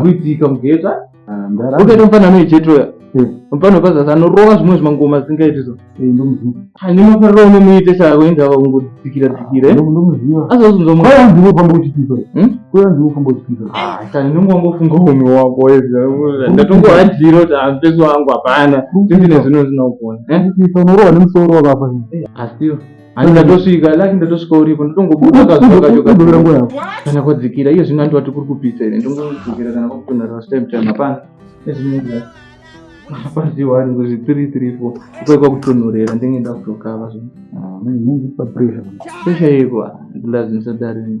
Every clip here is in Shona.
kuitika mugeta ukaita mufanano yechetoya mufana wepazasi anorova zvimwe zvimangoma zvisingaiti so ane mafariro unomuite chako ingava ungodzikira dzikira azounzomukaininongofunga ume wako ndatongohadhira kuti ampeso wangu hapana tindine zvino zvinogona unorova nemusoro wakafa asiwo ndatosvika laki ndatosvika uripo ndotongobuda kazokachokaorangurako kana kwadzikira iye zvino andiwati kuri kupisa here ndongodzikira kana kwakutonhara stime time hapana ezvinonzaa paziwani kuzvi three three four uko kwakutonhorera ndenge ndakutokava zvino pesha yeko ndilazimisa darini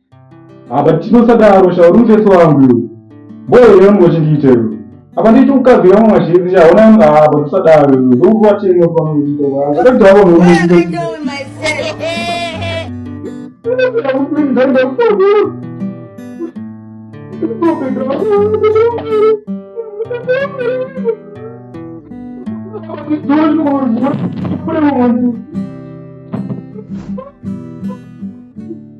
apa tinosadaro shauri mutesi wangu iwe mboyo yangu wachindiita iwe apa ndicho mukadzi wangu mwazhinzi chaona yangu apa tisadaro iwe ndokuvatenge panoaakutaura Thank you.